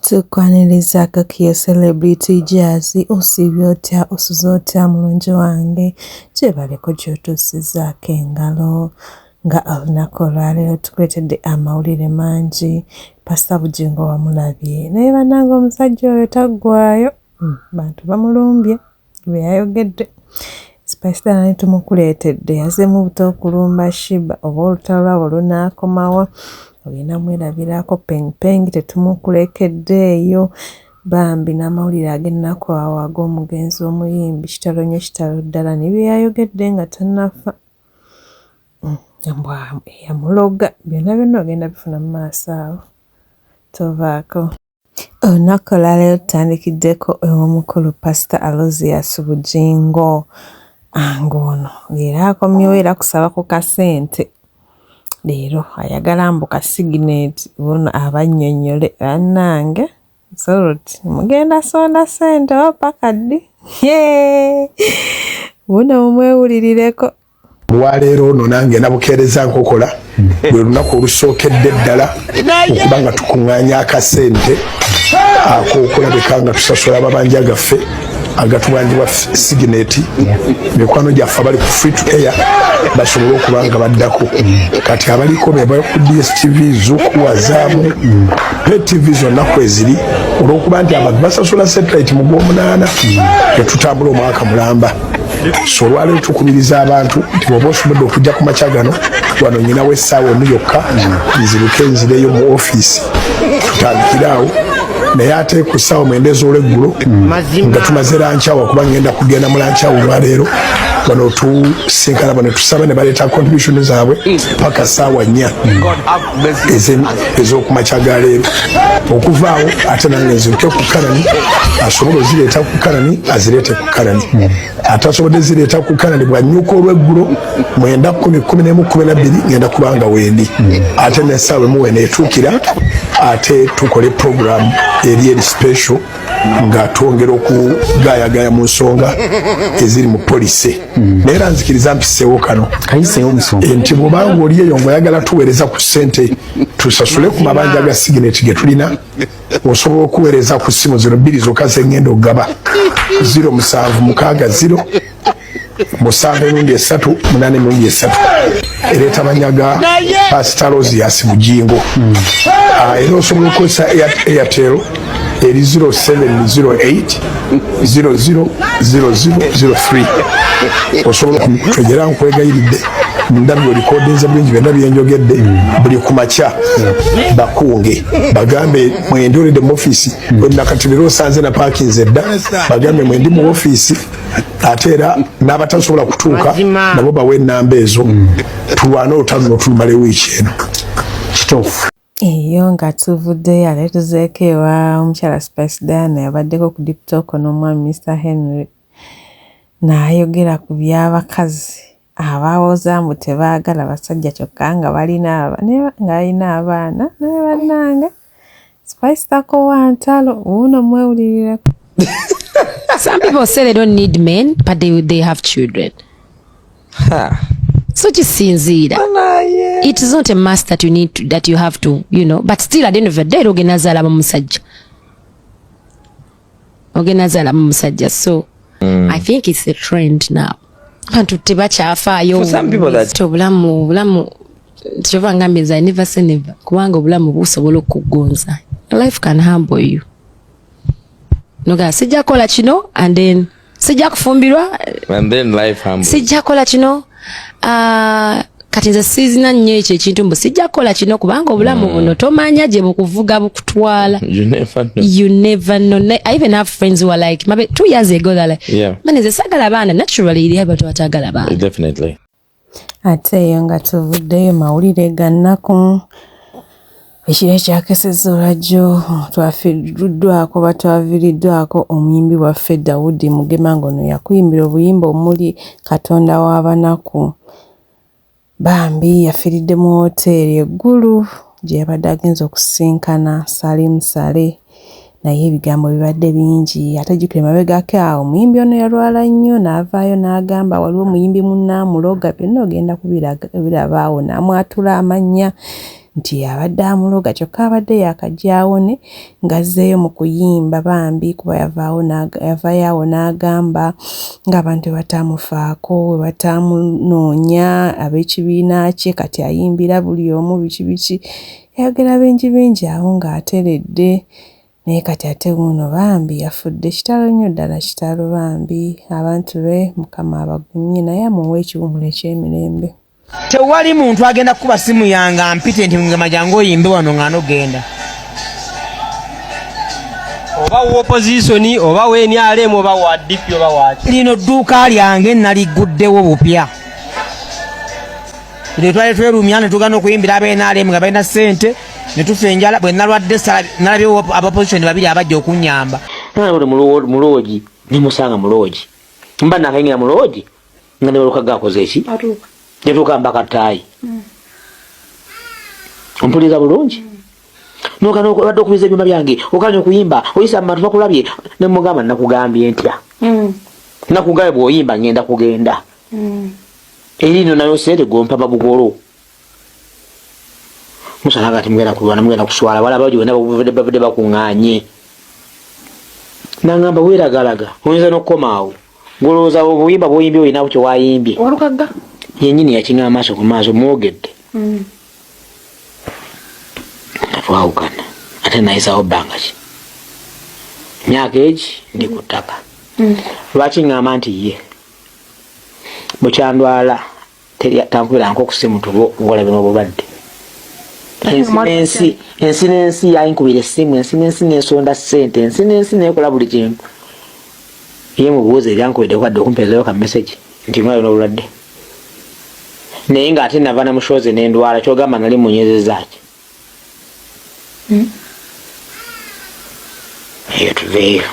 tukwaniriza kakiyo celebrity jazzy osiibye otya osuze otya mulungi wange kyebaleko kyotuusizaako engalo nga olunaku olwaleero tukuletedde amawulire mangi pasta bujingo wamulabye naye bananga omusajja oyo taggwayo hmm, bantu bamulumbye bwe yayogedde. Spice Diana ne tumukuleetedde yazemu buto okulumba Shiba oba olutalo lwabo lunaakomawa olina mwerabirako Peng Peng tetumukulekedde eyo bambi n'amawulire ag'ennaku awo ag'omugenzi omuyimbi kitalo nnyo kitalo ddala ne bye yayogedde nga tannafa mm, mbwa eyamuloga byonna byonna ogenda bifuna mu maaso awo tovaako. Olunaku olwaleero tutandikiddeko ew'omukulu Pasita Alozias Bugingo ng'ono leero akomyewo era kusaba ku kasente leero ayagala mbu ka sigineti ono abannyonnyole bannange soroti mugenda sonda sente oba paka ddi buno mumwewulirireko. olwaleero ono nange nabukeereza nkokola hmm. lwe lunaku olusookedde ddala okuba nga tukuŋŋaanya akasente ak'okulabika nga tusasula amabanja gaffe agatubanjibwa sigineti mikwano gyaffe abali ku free to air basobole okuba nga baddako kati abaliko bebali ku dstv zuku wazaamu ne tv zonna kweziri olwokuba nti abantu basasula satellite mu gwomunaana tetutambula omwaka mulamba so olwaleero tukubiriza abantu nti bwoba osobodde okujja ku makya gano wano nyinawo essaawa emu yokka nziruke nzireyo mu ofiisi tutandikire awo naye ate ku ssaawa mwenda ez'olweggulo nga tumaze lankyawa kuba ngenda kugenda mu lankyawa olwaleero wano tusinkana bano tusaba ne baleeta contribution zaabwe paka ssaawa nnya ez'okumakya ga leero okuvaawo ate nange nziruke ku karani asobola ozireeta ku karani azireete ku karani atasobodde zireeta ku karani bwanyuka olweggulo mwenda kumi kumi nemu kumi nabbiri ngenda kubanga wendi ate nesaawa emuwe neetuukira ate tukole programu eri eri special nga twongera okugayagaya mu nsonga eziri mu polisi naye era nzikiriza mpiseewo kano eh, nti bwobanga oli eyo ngaoyagala tuweereza ku ssente tusasule ku mabanja ga sigineti ge tulina osobola okuweereza ku ssimu zino bbiri zokka zengenda okugaba ziro musanvu mukaaga ziro musanvu emirundi esatu munana emirundi esatu ereeta banyaga pasita rosias bujingo ah, era osobola okukozesa airtel eri 0708000003 osobola okutegera nkwegayiridde ndabyo likodinze bingi byonna byenjogedde buli ku makya bakunge bagambe mwendolede mu ofiisi wenakati lero osanze na paakinze dda bagambe mwendi mu ofiisi ate era n'abatasobola kutuuka nabo bawa enamba ezo tulwane olutalo notulumala ewiiki eno kituufu eyo nga tuvuddeyo ate tuzeeko ewa omukyala spice diana yabaddeko ku diptoko n'omwami mr henry naayogera ku by'abakazi abawoza mbu tebaagala basajja kyokka nga balina ng'alina abaana naye bannange spice takowa ntalo wuuno mwewulirireko some people say they don't need men but they, they have children huh. so kisinziira it is not a must that you need to, that you have to you know but still at the end of the day logenda zaala bamusajja ogenda zala mu musajja so mm. i think it's a trend now bantu tebakyafaayo obulamu obulamu kyova ngambye nze never say never kubanga obulamu busobola okugonza life can humble you noga sijja kola kino and then sijja kufumbirwa sijja kola kino uh, kati nze sizina nnyo ekyo ekintu mbu sijja kukola kino kubanga obulamu mm. buno tomanya gye bukuvuga bukutwala you never know i even have friends who are like mabe two years ago they're like yeah. man is a sagala bana naturally iri abantu batagala bana definitely ate eyo nga tuvuddeyo mawulire ga nnaku ekiro ekyakeseza olwajjo twafiruddwako batwaviriddwako omuyimbi waffe dawudi mugema ng'ono yakuyimbira obuyimba omuli katonda w'abanaku bambi yafiiridde mu wooteeri eggulu gye yabadde agenze okusisinkana salimu sale naye ebigambo bibadde bingi ate jjukira emabegako awo omuyimbi ono yalwala nnyo n'avaayo n'agamba waliwo omuyimbi munna amuloga byonna ogenda kubiraba awo n'amwatula amannya nti abadde amuloga kyokka abadde yakajyawone ng'azzeeyo mu kuyimba bambi kuba yavaawo yavayo awo n'agamba ng'abantu bataamufaako we bataamunoonya ab'ekibiina kye kati ayimbira buli omu biki biki Yayogera bingi bingi awo ng'ateredde naye kati ate wuuno bambi yafudde kitalo nnyo ddala kitalo bambi abantu be mukama abagumye naye amuwe ekiwumulo eky'emirembe. Tewali muntu agenda kukuba simu yange ampite nti ngema jangu oyimbe wano nga nogenda oba wa opozisoni oba wa nrm oba wa dp oba waki lino dduuka lyange naligguddewo bupya buli twali twerumya ne tugana okuyimbira aba nrm nga balina ssente ne tufa enjala bwe nalwadde nalabyewo abapozisoni babiri abajja okunyamba muloogi nemusanga muloogi mba nakayingira muloogi nga nebaluka gakoze eki netuuka mbaka ttaayi mm. ompuliriza bulungi mm. nokana obadde okubiza ebyuma byange okanya okuyimba oyisa mubantu bakulabye nemugamba nakugambye ntya mm. nakugambye bwoyimba ngenda kugenda eri no nayo sente gompa babugolo musala kati mugenda kulwana mugenda kuswala wala bajo wena babuvede babede bakunganye nangamba wera galaga oyinza nokomaawo goloza obuyimba bwoyimbye oyina kyo wayimbye olukaga yenyini yakinga amaso ku maaso mwogedde mm. twawukana ate nayisawo banga ki myaka egi ndi ku ttaka mm. lwaki ngamba nti ye bukyandwala tankubira nko kusimu tubo ngolabe mu bulwadde ensi ensi n'ensi yayinkubira essimu ensi n'ensi n'ensonda ssente ensi n'ensi neekola buli kintu ye mubuuza ebyankubidde kwadde okumpeezayo ka mesagi nti mwayo n'obulwadde naye ng'ate nava na mushoozi n'endwala kyogamba nali munyezezaaki hmm? eyo tuveeyo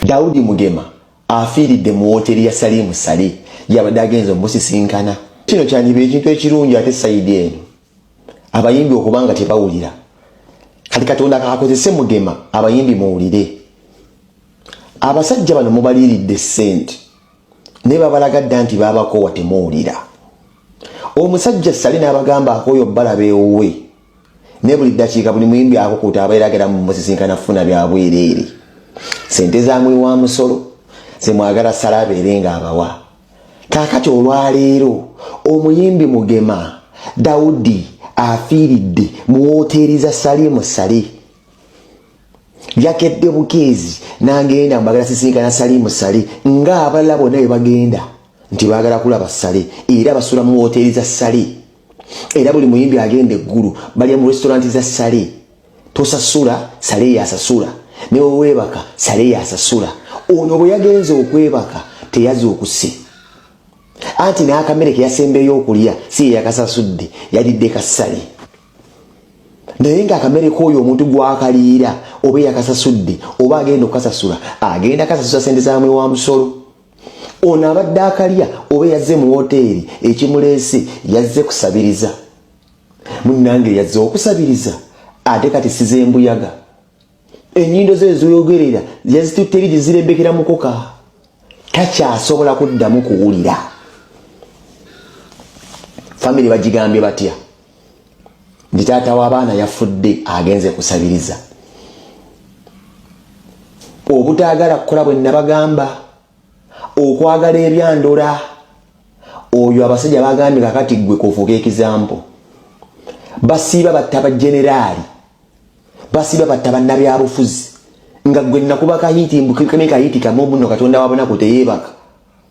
daudi mugema afiiridde mu wooteeri ya Salimu Sale yabadde agenze omusisinkana. Kino kyandiba ekintu ekirungi ate sayidi eno abayimbi okuba nga tebawulira kati katonda kakozese mugema abayimbi muwulire abasajja bano mubaliiridde ssente naye babalaga dda nti baabakoowa temuwulira omusajja sale n'abagamba akooyo balaba ewuwe ne buli ddakiika buli muyimbi akukuta abeera agera mu musisinkana kufuna bya bwereere sente za muli wa musolo zemwagala sala abeere nga abawa kaakati olwaleero omuyimbi mugema dawudi afiiridde mu wooteeri za salimu sale yakedde bukeezi nagenda mbagala sisinkana salimu sale ng'abalala bonna bwe bagenda nti baagala kulaba sale era basula mu wooteeri za sale era buli muyimbi agenda eggulu balya mu restaurant za sale tosasula sale yasasula neweweebaka sale yasasula ono bwe yagenze okwebaka teyaza okuse anti n'akamere keyasembeyo okulya si yeyakasasudde yalidde kasale naye nga akamere k'oyo omuntu gwakaliira oba eyakasasudde oba agenda okukasasula agenda kasasula sente zamwe wa musolo ono abadde akalya oba yazze mu woteeri ekimuleese yazze kusabiriza munnange yazze okusabiriza ate kati size embuyaga enyindo ze ezoyogerera yazitutteri gye zirembekera mukoka takyasobola kuddamu kuwulira famire bagigambye batya nti taata w'abaana yafudde agenze kusabiriza obutaagala kukola bwe nabagamba okwagala ebyandula oyo abasajja bagambye kakati ggwe kufuuka ekizampo basiiba batta bajeneraali basiiba batta bannabyabufuzi nga gwe nakuba kahiiti mbukikane kahiiti kamu obuno katonda wabunaku teyeebaka